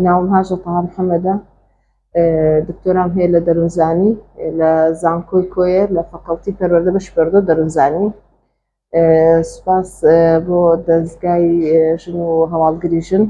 ناوم هاژە تەها محەمەدە دکتۆرام هەیە لە دەروونزانی لە زانکۆی کۆیە لە فەکەڵتی پەروەردە بەشی پەروەردە دەروونزانی سوپاس بۆ دەزگای ژن و هەواڵگری ژن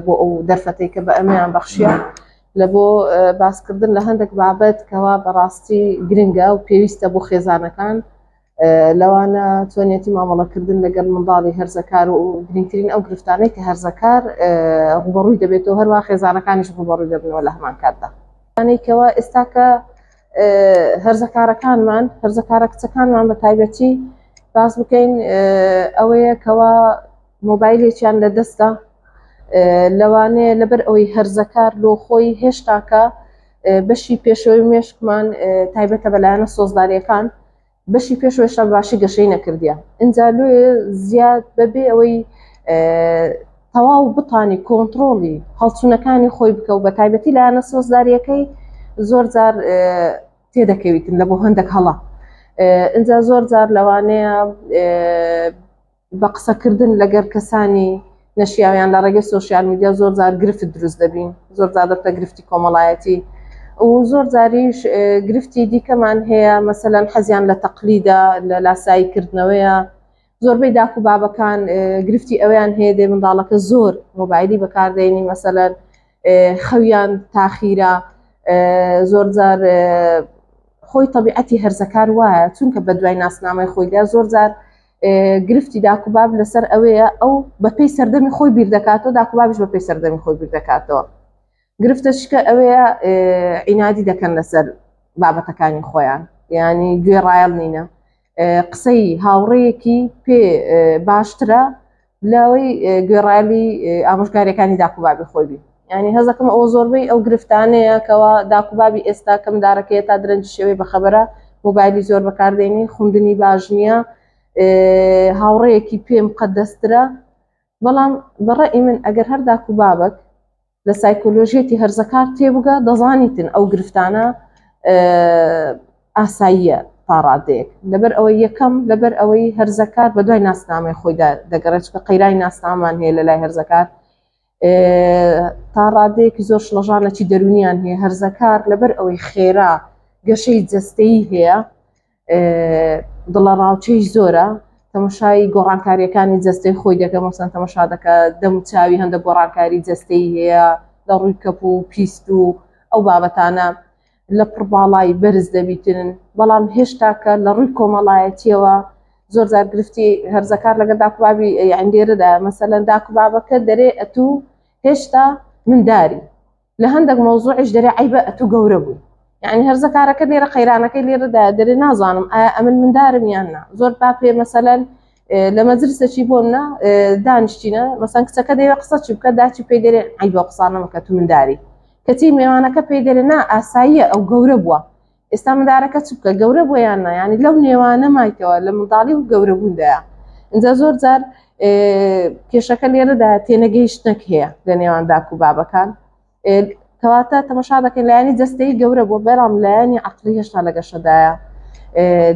بۆ ئەو دەرفەتەی کە بە ئەمیان بەخشیە لە بۆ باسکردن لە هەندێک بابەت کەوا بەڕاستی گرنگە و پێویستە بۆ خێزانەکان لەوانە چۆنیەتی مامەڵەکردن لەگەر منداڵی هەرزەکار و گرنگترین ئەو گرفتانەی کە هەرزەکار ڕوبەڕووی دەبێتەوە هەروە خێزانەکانیش ڕوبەڕووی دەبنەوە لە هەمان کاتدا ئەنێکەوە ئێستاکە هەرزەکارەکانمان هەرزەکارە کچەکانمان بە تایبەتی باس بکەین ئەوەیە کەوا مۆبایلێکیان لە دەستە لەوانەیە لەبەر ئەوەی هەرزەکار لۆ خۆی هێشتاکە بەشی پێشەوەی مێشکمان تایبەتە بەلایەنە سۆزداریەکان بەشی پێش وێشا باشی گەشەی نەکردە ئینجا لێ زیاد بەبێ ئەوەی تەواو بتانی کۆنتترۆڵی هەڵچوونەکانی خۆی بکە و بە تایبەتی لایەنە سۆزداریەکەی زۆر جار تێدەکەویتن لە بۆ هەندێک هەڵە ئینجا زۆر جار لەوانەیە بە قسەکردن لەگەر کەسانی نەشیاویان لە ڕێگەی سۆشیال میدیا زۆر جار گرفت دروست دەبین زۆر جار دەبتە گرفتی کۆمەڵایەتی و زۆر جاریش گرفتی دیکەمان هەیە مەسەەن حەزیان لە تەقلیدا لە لاسایی کردنەوەیە زۆربەی داکو بابەکان گرفتی ئەویان هەیە دێ منداڵەکە زۆر مۆبایلی بەکاردێنی مەسەەن خەویان تاخیرە زۆر جار خۆی طبیعەتی هەرزەکار وایە چونکە بە دوای ناسنامەی خۆیدا زۆر جار گرفتی داکوباب لەسەر ئەوەیە ئەو بەپی سەردەمی خۆی بیردەکاتەوە داکوبابش بەپی سەردەمی خۆی بیردەکاتەوە گرفتە شکە ئەوەیە عینادی دەکەن لەسەر بابەتەکانی خۆیان ینی گوێ ڕایەڵ نینە قسەی هاوڕەیەکی پێ باشترە لەوەی گوێڕایەلی ئامۆژگاریەکانی داکوبابی خۆی بی ینی هەزەکەم ئەو زۆربەی ئەو گرفتانەیە کەەوە داکوبابی ئێستا کەم دارەکەی تا درەنج شێوەی بەخەبەرە موبایلی زۆر بەکاردێنی خوندنی باش نییە هاوڕەیەکی پێم قەدەسترە بەڵام بەڕێ من ئەگەر هەر داکوبابک لە سایکۆلۆژیەتی هەرزەکار تێبگە دەزانیتن ئەو گرفتانە ئاساییە تاڕادەیەک لەبەر ئەوەی یەکەم لەبەر ئەوەی هەرزەکار بە دوای ناسنامەی خۆیدا دەگەڕێتکە قەیرای ناسنامان هەیە لە لای هەرزەکار تا ڕادەیەکی زۆر شڵەژانەی دەرونیان هەیە هەرزەکار لەبەر ئەوەی خێرا گەشەی جستەی هەیە دڵەڕاوچەی زۆرە تەمەشای گۆڕانکاریەکانی جەستەی خۆی دەکە مەسەن تەمەشا دەکە دەم چاوی هەندە گۆڕانکاری جەستەی هەیە لە ڕووی کەپ و پیست و ئەو بابەتانە لە پڕباڵای بەرز دەبیترن بەڵام هێشتاکە لە ڕووی کۆمەڵایەتیەوە زۆر زار گرفتی هەرزەکار لەگە داکوبابی ئەندێرەدا مەسەلەن داکوبابەکە دەرێ ئەتوو هێشتا منداری لە هەندێک مەوزوعیش دەرێ عیبە ئەتو گەورە بووی یعنی هەرزە کارەکە لێرە قەیرانەکەی لێرەدا دەرێ نازانم ئایا ئەمن مندارم یان نا زۆر با پێ مەسەلەن لە مەجلسەکی بۆم نا دانیشتینە مەسەن کچەکە دەیە قسە چی بکە داچی پێی دەرێ عیبە قسانەمەکە تو منداری کەچی مێوانەکە پێی دەرێ نا ئاساییە ئەو گەورە بووە ئێستا مندارەکە چبکە گەورە بۆ یان نا ینی لەو نێوانە مایکەوە لە منداڵی و گەورەبووندایە اینجا زۆر جار کێشەکە لێرەدا تێنەگەیشتنەک هەیە لە نێوان داک و بابەکان کەواتە تەمەشا دەکەن لایانی جستەی گەورە بۆ بەرام لایانی عقلی هێشتا لە گەشەدایە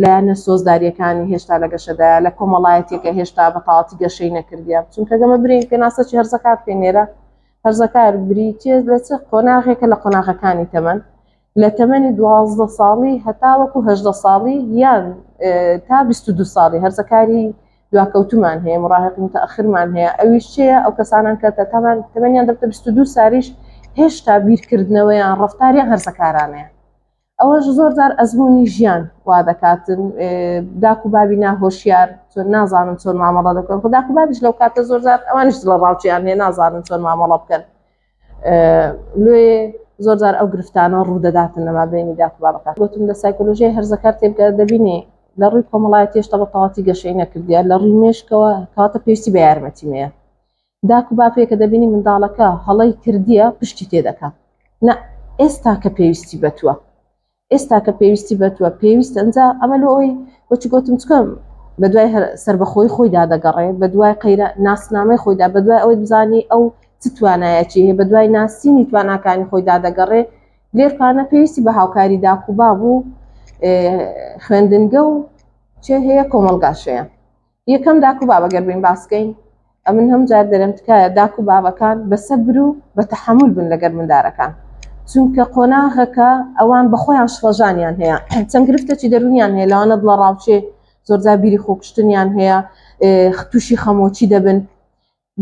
لایەنە سۆزداریەکانی هێشتا لە گەشەدا لە کۆمەڵایەتێکە هێشتا بە تاڵاتی گەشەی نەکردیە چونکە گەمە برین پێناسەی هەرزەکار پێنێرە هەرزەکار بریتێ لە چ قۆناغێکە لە قۆناغەکانی تەمەن لە تەمەنی دوازدە ساڵی هەتاوەکو هەژدە ساڵی یان تا بیست و دوو ساڵی هەرزە کاری دواکەوتومان هەیە مڕاهق متەخرمان هەیە ئەویش چەیە ئەو کەسانان کە تەتامان تەمەنیان دەبتە بیست و دوو ساریش هێشتا بیرکردنەوەیان ڕفتاریان هەرزەکارانەیە ئەوەش زۆر جار ئەزمموی ژیان وا دەکاتن داک و بابی ناهۆشیار چۆن نازانن چۆن مامەڵە دەکەن خودداکو بابیش لەو کاتە زۆر جار ئەوانش لە ڕاوچیان هەیە نازانن چۆن مامەڵە بکەن لێ زۆرجار ئەو گرفتانە ڕوودەداتن لەما بینی داخبارەکان گوتم لە سایکۆلۆژیای هەرزەکار تێبگە دەبینی لە ڕووی کۆمەڵای تێشتا بە تەواتی گەشەی نەکردیە لە ڕووی مێشکەوە کاتە پێویستی بە یارمەتیمەیە داکو باپێکە دەبینی منداڵەکە هەڵی کردیە پشتی تێدەکە نە ئێستا کە پێویستی بەتوە ئێستا کە پێویستی بەتوە پێویست ئەنجا ئەمە لۆ ئەوی وەچ گۆتم چکەم بە دوای هەر سربەخۆی خۆیدا دەگەڕێ بە دوای قەیرە ناسنامەی خۆیدا بە دوای ئەوەی بزانی ئەو چ توانایەکی هەیە بە دوای ناسینی تواناکانی خۆیدا دەگەڕێ لێر پانە پێویستی بە هاوکاری داکوبا بوو خوێندنگە و چێ هەیە کۆمەڵگاشەیە یەکەم داک و بابە گەر بین باس بکەین ئەمن هەم جار دەرم تکایە داک و بابەکان بەسەبر و بە تەحەمول بن لەگەر مندارەکان چونکە قۆناغەکە ئەوان بە خۆیان شڵەژانیان هەیە چەند گرفتەی دەرونیان هەیە لەوانە دڵە ڕاوچێ زۆرجار بیری خۆکشتنیان هەیە تووشی خەمۆچی دەبن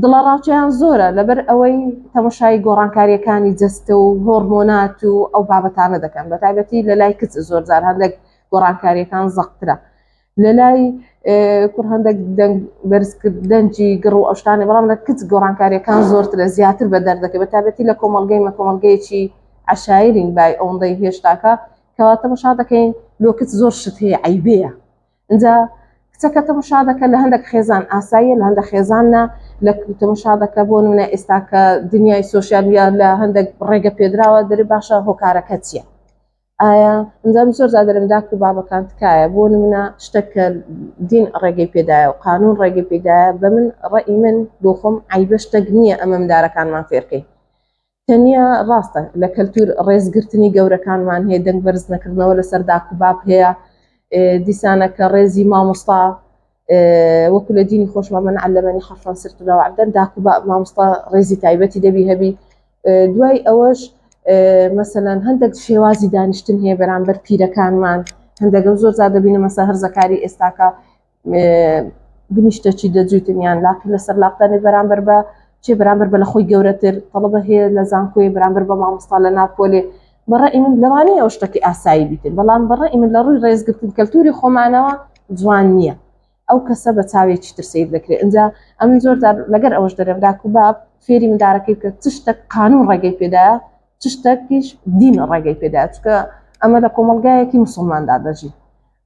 دڵەڕاوکێیان زۆرە لەبەر ئەوەی تەمەشای گۆڕانکاریەکانی جەستە و هۆرمۆنات و ئەو بابەتانە دەکەن بە تایبەتی لە لای کچ زۆرجار هەندێک گۆڕانکاریەکان زەقترە لە لای کوڕ هەندێک بەرزکردنجی گڕ و ئەوشتانە بەڵام لە کچ گۆڕانکاریەکان زۆرترە زیاتر بە دەردەکە بە تابەتی لە کۆمەلگەی مە کۆمەلگەیەکی عشایرین بای ئەوەندەی هێشتاکە کەواتە مەشا دەکەین لۆ کچ زۆر شت هەیە عیبەیە ئینجا کچەکە تەمشا دەکە لە هەندێک خێزان ئاساییە لە هەندە خێزاننا لە تەمشا دەکە بۆ نونە ئێستا کە دنیای سوۆسیالیا لە هەندێک ڕێگە پێدراوە دەری باشە هۆکارەکە چییە؟ ئایا ئەنجام زۆر زادرم داک و بابەکان تکایە بۆ نمونە شتەکە دین ڕێگەی پێدایە و قانون ڕێگەی پێدایە بە من ڕێی من بۆ خۆم ئایبە شتەک نییە ئەمەم دارەکانمان فێرکەین تەنیا ڕاستە لە کەلتور ڕێزگرتنی گەورەکانمان هەیە دەنگ بەرز نەکردنەوە لەسەر داک و باب هەیە دیسانە کە ڕێزی مامۆستا وەکو لە دینی خۆشمان من علەمەنی حەفان سرتراوە عبدەن داک و باب مامۆستا ڕێزی تایبەتی دەبی هەبی دوای ئەوەش مەسەەن هەندێک شێوازی دانیشتن هەیە بەرامبەر پیرەکانمان هەندێکم زۆر زیاد دەبینە مەسە هەرزەکاری ئێستاکە بنیشتە چی دەجوتن یان لاقی لەسەر لاقدانێ بەرامبەر بە چێ بەرامبەر بە لە خۆی گەورەتر تەڵبە هەیە لە زانکۆی بەرامبەر بە مامۆستا لە ناپۆلێ بەڕە ئیمن لەوانەیە ئەو شتەکە ئاسایی بیتن بەڵام بەڕە ئیمن لە ڕووی ڕێزگرتن کەلتوری خۆمانەوە جوان نییە ئەو کەسە بە چاوێکی تر سیر دەکرێت ئەجا ئەم زۆر لەگەر ئەوەش دەرم داکو باب فێری مندارەکەی کە چشتە قانون ڕێگەی پێدا چشتەکیش دین ڕێگەی پێدا چکە ئەمە لە کۆمەلگایەکی مسلماندا دەژی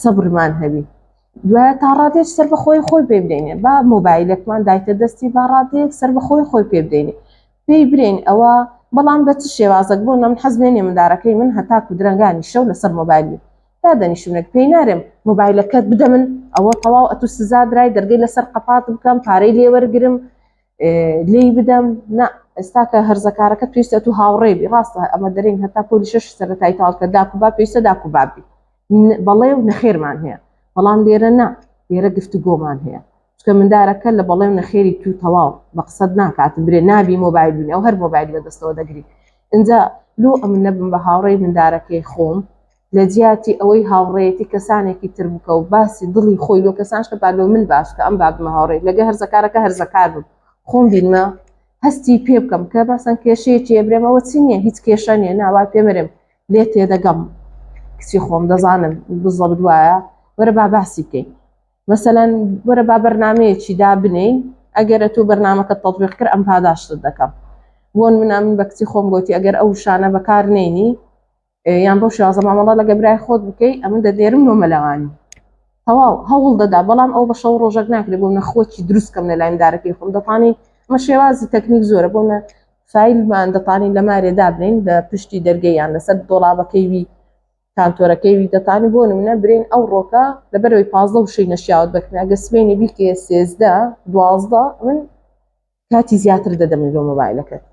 سەبرمان هەبی دوایە تا ڕادێک سەر بەخۆی خۆی پێ بدەینێ با مۆبایلەکمان دایتە دەستی با ڕادێک سەر بەخۆی خۆی پێ بدەینێ پێی برین ئەوە بەڵام بە چ شێوازەک بۆ نەم حەزمێنێ مندارەکەی من هەتاکو درەنگانی شەو لەسەر مۆبایلی تا دەنیشونێک پێی نارێم مۆبایلەکەت بدە من ئەوە تەواو ئەتو سزا درای دەرگەی لەسەر قەپات بکەم پارەی لێوەرگرم لێی بدەم نا ئێستاکە هەرزەکارەکە پێویستە تو هاوڕێبی ڕاستە ئەمە دەرین هەتا پۆلی شش سەرەتای تاڵکە داکوبا پێویستە داکوبابی بەڵێ و نەخێرمان هەیە بەڵام لێرە نا لێرە گفتوگۆمان هەیە چکە مندارەکە لە بەڵێ و نەخێری تو تەواو بە قسەد ناکات برێ نابی مۆبایل بینی ئەو هەر مۆبایلی بەدەستەوە دەگری اینجا لۆ ئەمن نەبم بە هاوڕێی مندارەکەی خۆم لە جیاتی ئەوەی هاوڕێتی کەسانێکی تر بکە و باسی دڵی خۆی لۆ کەسانش کە بالۆ من باش کە ئەم بابمە هاوڕێ لەگە هەرزەکارەکە هەرزەکار بوو خۆم بینمە هەستی پێ بکەم کە باسەن کێشەیە چێ برێمەوە چی نییە هیچ کێشە نیە ناوا پێمەرێم لێت تێدەگەم کچی خۆم دەزانم بزەبت وایە وەرە با باسی بکەین مەسەەن وەرە با بەرنمەیەکی دابنین ئەگەرە تۆ بەرنمەکە تەطبیق کرد ئەم پاداشتت دەکەم بۆن منە من بە کچی خۆم گوتی ئەگەر ئەو شانە بەکار نینی یان بەو شازە مامەڵە لە گەبرای خۆت بکەی ئەمە دەدێرم بۆ مەلەوانی تەواو هەوڵ دەدا بەڵام ئەو بە شەو ڕۆژەک ناکرێت بۆ نەخۆکی دروستکەم لە لایم دارەکەی خۆم دەپانی مە شێوازی تەکنیک زۆرە بۆ فایلمان دەتانین لە مارێ دابنین لە پشتی دەرگەی یان لەسەر دۆڵابەکەی وی کانتۆرەکەی وی دەتانی بۆ نمونە برین ئەو ڕۆکە لە بەرەوەی پازدە وشەی نەشیاوت بەکرێن ئەگە سبەینێ بیکێ سێزدە دوازدە من کاتی زیاتر دەدەمن لۆ مۆبایلەکەت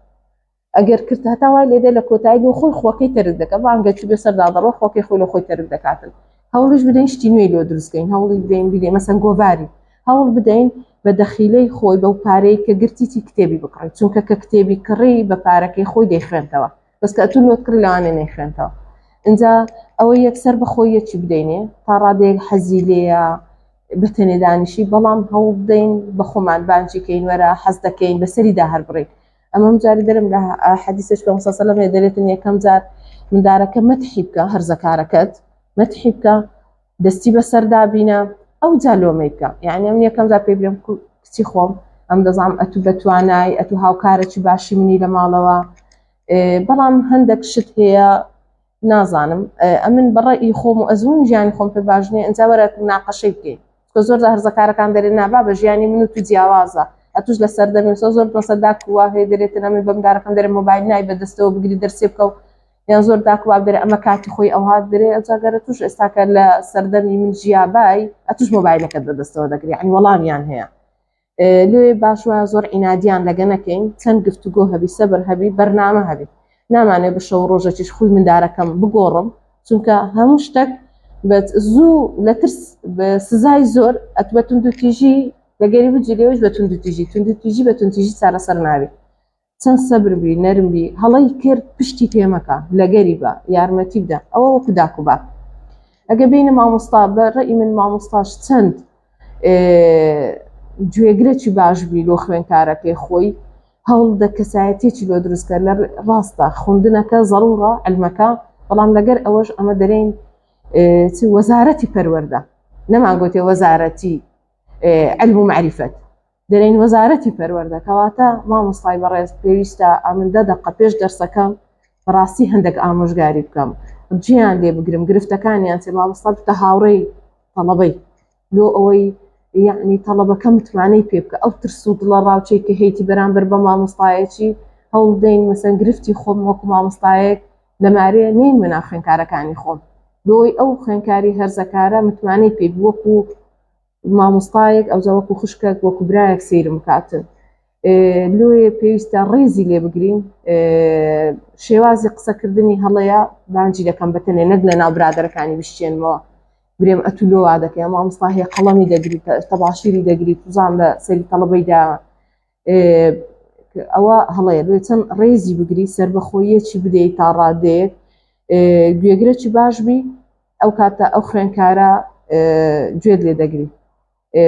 ئەگەر کرد هەتا وای لێدە لە کۆتایی لۆ خۆی خۆکەی تەرک دەکە بانگەکی بێ سەردا دەڕۆ خۆکەی خۆی لە خۆی تەرک دەکاتن هەوڵیش بدەین شتی نوێی لۆ دروستکەین هەوڵی بدەین بدەین مەسەن گۆڤاری هەوڵ بدەین بە دەخیلەی خۆی بەو پارەی کە گرتیی کتێبی بکڕی چونکە کە کتێبی کڕی بە پارەکەی خۆی دەیخوێنتەوە بەسکە ئەتو لۆت کڕی لەوانێ نەیخوێنتەوە اینجا ئەوە یەکسەر بەخۆی یەکی بدەینێ تا ڕادەیەک حەزی لێە بەتەنێدانیشی بەڵام هەوڵ بدەین بە خۆمان بانجیکەین وەرە حەز دەکەین بەسەریدا هەر بڕین ئەمەم جاری دەرم لە حەدیسش پێ سەلم هەیە دەرێتن یەکەم جار مندارەکە مەتحی بکە هەرزەکارەکەت مەتحی بکە دەستی بەسەر دابینە ئەو جالۆمەی بکە یعنی ئەم یەکەم جار پێ بێم کچی خۆم ئەم دەزانام ئەتو بە توانای ئەتو هاوکارەی باشی منی لە ماڵەوە بەڵام هەندێک شت هەیە نازانم ئەمن بەڕە ئی خۆم و ئەزمون ژیانی خۆم پێ باش نیە ئەجا وەرە ناقەشەی بکەین کە زۆر هەرزەکارەکان دەرێن نابا بە ژیانی من و تو جیاوازە ئەتوش لە سەردەمی سۆ زۆر بەسە داک و هەیە دەرێتن ئەمن بەمدارەکەم دەرێ مۆبایل نای بەدەستەوە بگری دەرسێ بکە و یان زۆر داک واب دەرێ ئەمە کاتی خۆی ئەوها دەرێ ئەجاگەرە توش ئێستاکە لە سەردەمی من ژیابای ئەتوش مۆبایلەکەت بەدەستەوە دەگری عنی وەڵامیان هەیە لۆیێ باش وایە زۆر عینادیان لەگە نەکەین چەند گفتوگۆ هەبی سەبر هەبی بەرنامە هەبی نامانێ بە شەو ڕۆژەکیش خوی مندارەکەم بگۆڕم چونکە هەموو شتێک بەت زوو لە ترس سزای زۆر ئەتبەتون دوتیژی لەگەری بجیێش بە تونندتیژی تونندتیژی بە تونتیژی چارەسەر ناوی چەند سەبر بی نەرم بی هەڵەی کرد پشتی پێ مەکە لەگەری بە یارمەتی بدە ئەوە وەکو داکو باک ئەگە بینە مامۆستا بە ڕێی من مامۆستاش چەند گوێگرەی باش بی لۆ خوێنکارەکەی خۆی هەوڵ دە کەسایەتێکی لۆ دروستکە لە ڕاستە خوندنەکە زەڕوڕە ئەلمەکە بەڵام لەگەر ئەوەش ئەمە دەرین وەزارەتی پەروەەردە نەمان گوتێ وەزارەتی ئەلم و معریفەت دەرێن وەزارەتی پەروەردە کەواتە مامۆستای بەڕێز پێویستە ئەمن دە دەقە پێش دەرسەکەم بەڕاستی هەندێک ئامۆژگاری بکەم جیان لێ بگرم گرفتەکانیان چێ مامۆستا بتە هاوڕێی تەڵەبەی لۆ ئەوەی یعنی تەڵەبەکە متمانەی پێ بکە ئەو ترس و دڵە ڕاوچەی کە هەیتی بەرامبەر بە مامۆستایەکی هەوڵدەین مەسەن گرفتی خۆم وەکو مامۆستایەک لەمارێ نین منا خوێنکارەکانی خۆم لۆی ئەو خوێنکاری هەرزەکارە متمانەی پێ وەکو مامۆستایەک ئەوجا وەکو خوشکەک وەکو برایەک سیرم بکاتن لۆیە پێویستە ڕێزی لێ بگرین شێوازی قسەکردنی هەڵەیە بانجی دەکەم بەتەنێ نەک لە ناو برادەرەکانی بشتێنمەوە برێم ئەتو لۆوا دەکەم مامۆستا هەیە قەڵەمی دەگریت تەباشیری دەگریت بزان لە سەری تەڵەبەیدا ئەوە هەڵەیە بێ چەند ڕێزی بگری سربەخۆیەکی بدەیت تا ڕادەیەک گوێگرەی باش بی ئەو کاتە ئەو خوێنکارە گوێت لێ دەگری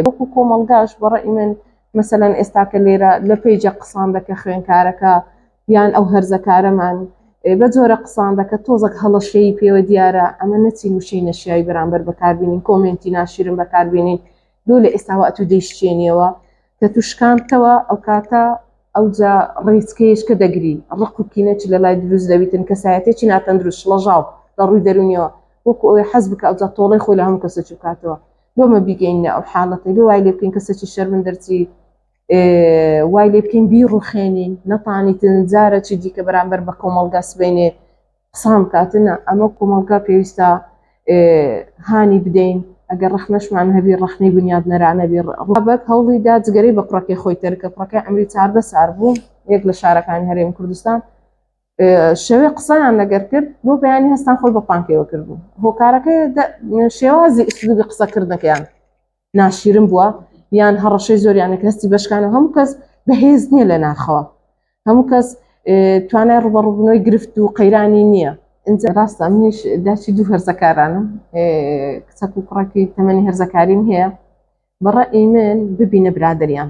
وەکو کۆمەلگاش بەڕە ئیمن مەسەەن ئێستاکە لێرە لە پێیجە قسان دەکە خوێنکارەکە یان ئەو هەرزەکارەمان بە جۆرە قسان دەکە تۆزەک هەڵەشەیی پێوە دیارە ئەمە نەچین وشەی نەشیایی بەرامبەر بەکاربیین کۆمنتی ناشیرم بەکاربیین لۆ لە ئێستاوە ئەتوو دەیشکێنیەوە کە توو شکانتەوە ئەوکاتە ئەوجا ڕێچکەیەش کە دەگری ڕق و کینەچ لە لای دروست دەویتن کەسایەتێکی ناتەندروست شڵەژاو لە ڕووی دەرونیەوە وەکو ئەوێ حەز بکە ئەوجا تۆڵەی خۆی لە هەموو کەسە چوکاتەوە لۆمە بیگەینە ئەو حاڵەتی لۆ وای لێ بکەین کەسێکی شەرمن دەرچی وای لێ بکەین بی ڕوخێنین نەتانیتن جارە چی دیکە بەرامبەر بە کۆمەڵگا سبەینێ قسان کاتن ە ئەمە کومەڵگا پێویستە هانی بدەین ئەگەر ڕەخنەشمان هەبی ڕەخنەی بنیاد نەرانەبی ڕابەک هەوڵی دا جگەرەی بە کوڕەکەی خۆی تەرک کە کوڕەکەی عەمری چاردە سار بوو یەک لە شارەکانی هەرێمی کوردستان شەوێ قسەیان لەگەر کرد بۆ بەیانی هەستان خۆی بە پانکەیەوە کردبوو هۆکارەکەی شێوازی ئسلوبی قسەکردنەکەیان ناشیرن بووە یان هەڕەشەی زۆریانێک هەستی بەشکانە هەموو کەس بەهێز نییە لە ناخەوە هەموو کەس توانای ڕوبەڕوبنەوەی گرفت و قەیرانی نییە ئەجا ڕاستە منیش داچی دوو هەرزەکارانم کچەک و کوڕەکی تەمەنی هەرزەکاریم هەیە بەڕە ئیمن ببینە برادریان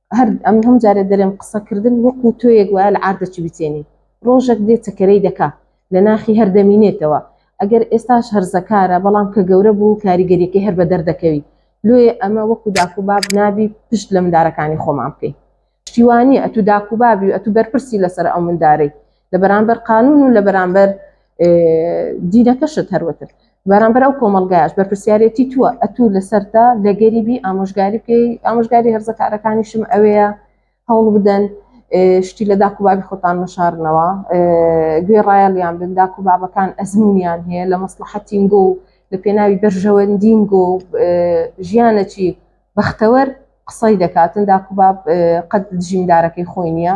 هەر ئەمن هەموو جارێ دەرێم قسە کردن وەکوو تۆیەک وایە لە عاردەکی بچێنی ڕۆژەک دێ تەکەرەی دەکا لە ناخی هەر دەمینێتەوە ئەگەر ئێستاش هەرزەکارە بەڵام کە گەورە بوو کاریگەریەکەی هەر بەدەر دەکەوی لۆیێ ئەمە وەکوو داکو باب نابی پشت لە مندارەکانی خۆمان بکەی شتیوانیە ئەتوو داکو بابی و ئەتوو بەرپرسی لەسەر ئەو مندارەی لە بەرامبەر قانون و لە بەرامبەر دینەکەشت هەروەتر بەرامبەر ئەو کۆمەلگایش بەرپسیارەتی تووە ئەتوو لەسەرتا لە گەریبی ئامۆژگاری بکەی ئامۆژگاری هەرزەکارەکانیشم ئەوەیە هەوڵ بدەن شتی لە داکو بابی خۆتان مەشارنەوە گوێ ڕایەڵیان بن داکو بابەکان ئەزمونیان هەیە لە مەسلحەتینگۆ و لە پێناوی بەرژەوەندینگۆ ژیانەکی بەختەوەر قسەی دەکاتن داکو باب قەت دژیندارەکەی خۆی نییە